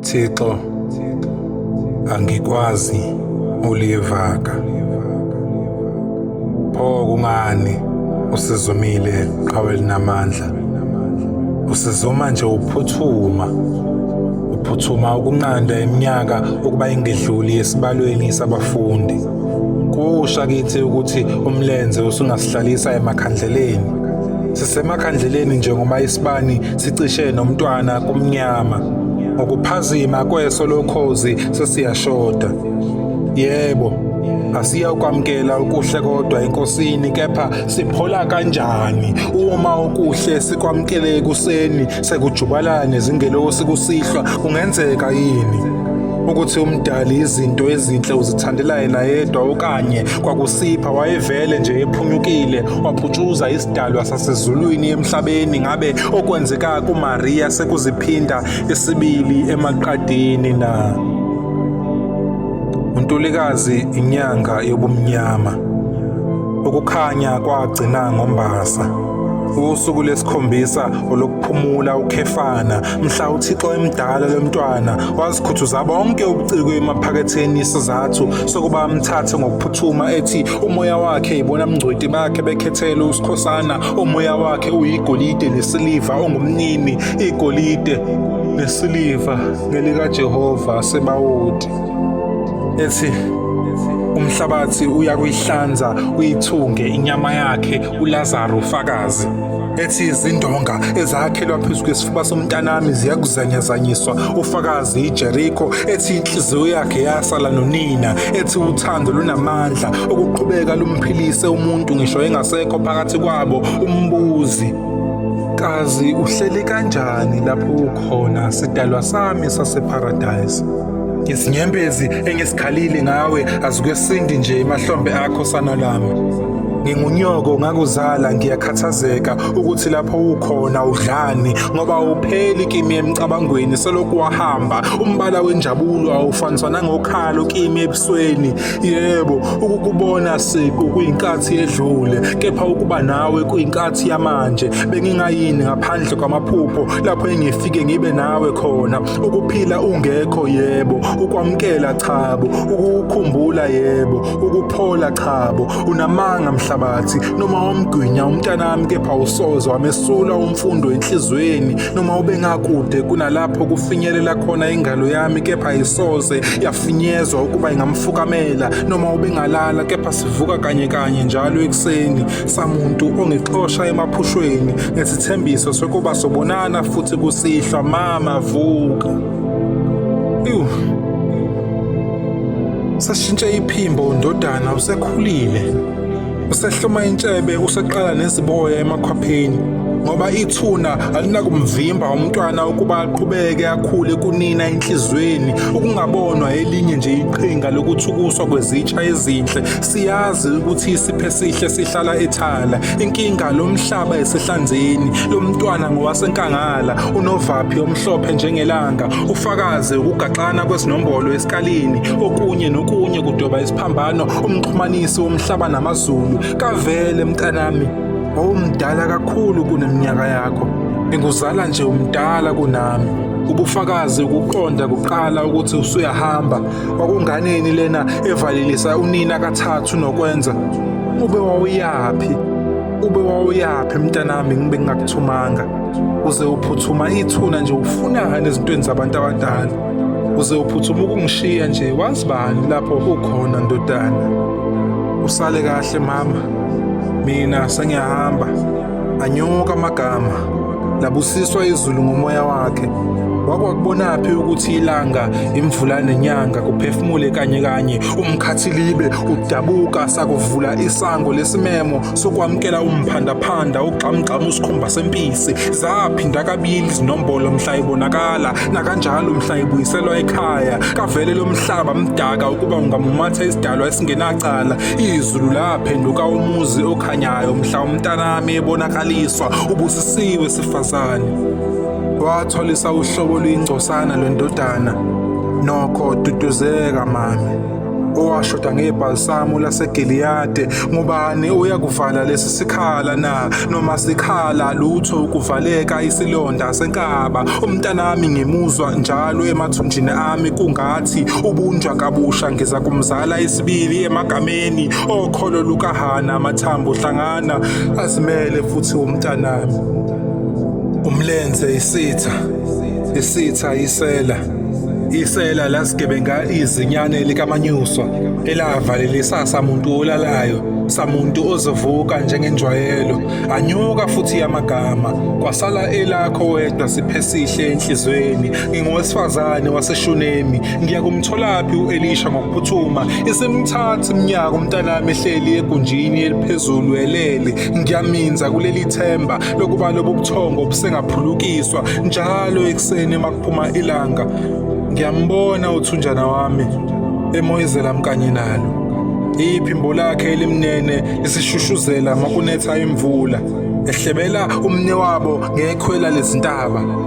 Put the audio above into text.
Thixo angikwazi uliyevaka pho kungani usizumile qhawe linamandla usizuma nje uphuthuma uphuthuma ukunqanda iminyaka ukuba ingedluli esibalweni sabafundi kusha kithi ukuthi umlenze usungasihlalisa emakhandleleni sisemakhandleleni njengoba isibani sicishe nomntwana kumnyama ngokuphazima kweso lokhozi sesiyashoda yebo asiyokwamkela ukuhle kodwa enkosini kepha siphola kanjani uma ukuhle sikwamkele ekuseni sekujubalane zingelosi kusihlwa kungenzeka yini ukuthi umdali izinto ezinhle uzithandela yena yedwa okanye kwakusipha wayevele nje ephunyukile waphuthuza dalwa sasezulwini emhlabeni ngabe okwenzeka kuMaria sekuziphinda isibili emaqadini na uNtulikazi inyanga yobumnyama ukukhanya kwagcina ngombasa usuku lesikhombisa olokuphumula ukhefana mhla uthixo emdala lomntwana wazikhuthuza bonke ubuciko emaphaketheni isizathu sokuba amthathe ngokuphuthuma ethi umoya wakhe yibona mngcweti bakhe bekhethele usikhosana umoya wakhe uyigolide nesiliva ongumnini igolide nesiliva ngelikajehova sebawoti ethi umhlabathi uyakuyihlanza uyithunge inyama yakhe ulazaro fakazi ethi izindonga ezakhelwa phezu kwesifuba somntanami ziyakuzanyazanyiswa ufakazi ijerikho ethi inhliziyo yakhe yasala nonina ethi uthando lunamandla okuqhubeka lumphilise umuntu ngisho engasekho phakathi kwabo umbuzi kazi uhleli kanjani lapho ukhona sidalwa sami saseparadise izinyembezi engisikhalile ngawe azikwesindi nje emahlombe akho sana lami Ngingunyoko ngakuzala ngiyakhathazeka ukuthi lapho ukhona udlani ngoba awupheli kimi emcabangweni selokhu wahamba umbala wenjabulo awufaniswa nangokhalo kimi ebusweni yebo ukukubona siqu kuyinkathi edlule kepha ukuba nawe kuyinkathi yamanje bengingayini ngaphandle kwamaphupho lapho engifike ngibe nawe khona ukuphila ungekho yebo ukwamkela chabo ukukhumbula yebo ukuphola chabo unamanga mhlabathi noma wamgwinya umntanami kepha usoze wamesula umfundo enhlizweni noma ubengakude kunalapho kufinyelela khona ingalo yami kepha isoze yafinyezwa ukuba ingamfukamela noma ubengalala kepha sivuka kanye kanye njalo ekuseni samuntu ongixosha emaphushweni ngesithembiso sokuba sobonana futhi kusihlwa mama vuka Ewu. Sashintsha iphimbo ndodana usekhulile. Usehloma intshebe useqala neziboya emakhwapheni ngoba ithuna alinakumvimba umntwana ukuba aqhubeke akhule kunina enhlizweni ukungabonwa elinye nje iqhinga lokuthukuswa kwezitsha ezinhle Siyazi ukuthi isiphe sihle sihlala ethala. Inkinga lomhlaba esehlanzeni, lomntwana ngowasenkangala, unovaphi omhlophe njengelanga, ufakaze ukugaxana kwesinombolo esikalini, okunye nokunye kudoba isiphambano umxhumanisi womhlaba namazulu. Kavele mntanami, wawumdala kakhulu kuneminyaka yakho. Ngikuzala nje umdala kunami. Ubufakazi ukuqonda kuqala ukuthi usuyahamba Kwakunganeni lena evalelisa unina kathathu nokwenza? Ube wawuyaphi? Ube wawuyaphi mntanami ngibe ngingakuthumanga? Uze uphuthuma ithuna nje ufunani ezintweni zabantu abadala? Uze uphuthuma ukungishiya nje wazi bani lapho ukhona ndodana? Usale kahle mama. Mina sengiyahamba. Anyuka amagama, labusiswa izulu ngomoya wakhe. Wakwakubonaphi ukuthi ilanga, imvula nenyanga kuphefumule kanye kanye umkhathilibe udabuka sakuvula isango lesimemo sokwamukela umphandaphanda ugxamgxama usikhumba sempisi zaphinda kabili izinombolo mhla ibonakala nakanjalo mhla ibuyiselwa ekhaya kavele lo mhlaba mdaka ukuba ungamumatha isidalwa esingenacala izulu laphenduka umuzi khanyayo mhla umntanami ebonakaliswa ubusisiwe sifazane watholisa uhlobo luyingcosana lwendodana nokho duduzeka mami owashoda ngebhalisamu laseGiliyade ngubani uyakuvala lesi sikhala na noma sikhala lutho ukuvaleka isilonda senkaba umntanami ngimuzwa njalo emathunjini ami kungathi ubunjwa kabusha ngiza kumzala isibili emagameni okholo lukahana amathambo hlangana azimele futhi umntanami umlenze isitha isitha isela isela lasigebenga izinyane likamanyuswa elavalela samuntu olalayo samuntu ozovuka njengenjwayelo anyuka futhi amagama kwasala elakho wedwa siphesihle enhlizweni ngingowesifazane waseshunemi Ngiya kumtholaphi u-Elisha ngokuphuthuma. Isimthatha iminyaka umntanami ehleli egunjini eliphezulu elele. Ngiyaminza kuleli themba lokuba lobu buthongo obusengaphulukiswa njalo ekuseni uma kuphuma ilanga. Ngiyambona uthunjana wami emoyizela mkanye nalo. Iphimbo lakhe elimnene lisishushuzela makunetha imvula. Ehlebela umne wabo ngekhwela lezintaba.